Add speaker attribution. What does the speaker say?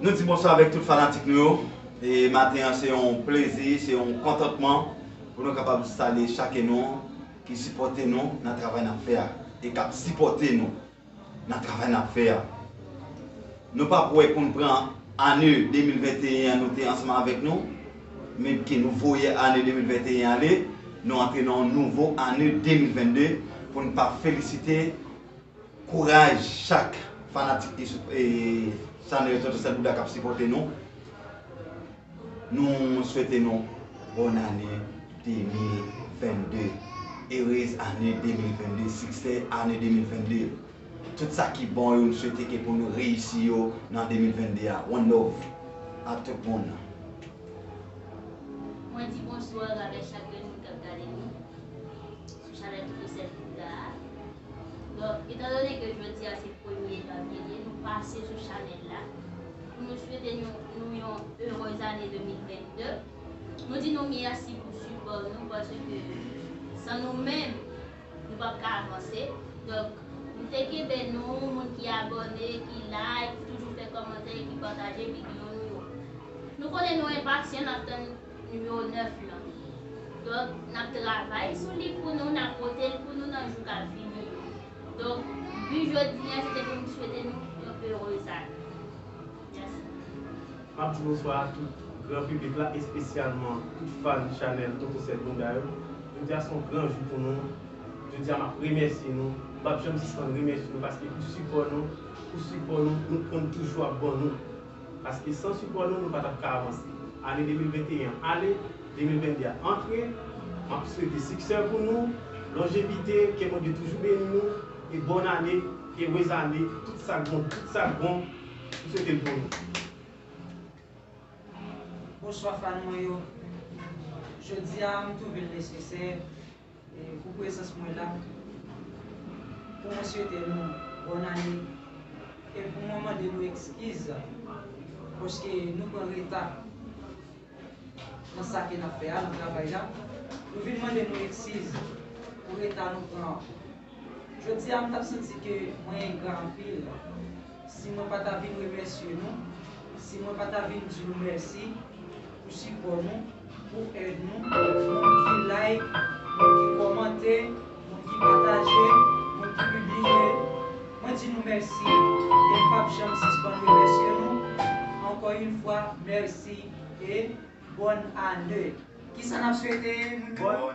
Speaker 1: Nou di bonswa avèk tout fanatik nou yo e maten an se yon plezi, se yon kontantman pou nou kapab salye chake nou ki sipòte nou nan travay nap fè a e kap sipòte nou nan travay nap fè a. Nou pa pou wè poun pran ane 2021 an nou te ansanm avèk nou men ke nou voye ane 2021 ale nou antre nan yon nouvo ane 2022 poun pa felisite Kouraj chak fanatik chanèl tonton sèl bouda kap sipòte nou Nou swete nou bòn ane 2022 Erez ane 2022 Siksè ane 2022 Tout sa ki bon yo m swete ke pou nou reyisi yo nan 2022 a One love a tout moun. Mwen di bonsoir avè chak grenn moun kap gade nou.
Speaker 2: sou chanèl Digicel Bouda a donk etan done ke jodi a se premye janvye ye nou pase sou chanèl la pou nou swete nou yon erez ane 2022 nou di nou mèsi pou sipò nou paske san nou menm nou pap ka avanse donk nou te kenbe nou moun ki abòne ki like ki toujou fè kòmantè ki pataje videyo nou yo nou konnen nou enpasyan nap tann Nimewo 9 lan. Donk,
Speaker 3: n ap travay sou li pou nou, n ap pote l pou nou nan jou k ap vini yo. Donk, bi jodi an se te pou m swete nou yon erez ane. Mèsi. M ap di bonswa a tout gran piblik la, espesyalman tout fan chanèl Toto Sèl Bouda yo. Jodi a se yon gran jou pou nou. Jodi a m ap remèsye nou. M pap janm sispann remèsye nou paske pou sipò nou, pou sipò nou, nou konn toujou ap ban nou. Paske san sipò nou, nou pa tap ka avanse. Ane 2021 an ale, 2022 a antre, map swete siksè pou nou, lonjevite, ke Bondye toujou beni nou, e bòn ane, erez ane, tout sak bon, tout sak bon, m swete l pou nou. Bonswa
Speaker 4: fan mwen yo. Jodia m twouve l nesesè. Pou prezans mwen la, pou mwen swete nou bòn ane e pou mwen mande nou ekskiz paske nou pran reta nan sa ke n ap fè a, nan travay la. Nou vin mande nou eksiz pou reta nou pran. Jodi a m tap santi ke mwen engra anpil si mwen pa ta vin remèsye nou, si mwen pa ta vin di nou mèsi pou sipò nou, pou èd nou, moun ki like, moun ki kòmante, moun ki pataje, moun ki pibliye, mwen di nou mèsi e m pap janm sispann remèsye nou, ankò yn fwa mèsi e. Bòn ane. Kisa nap swete moun yo?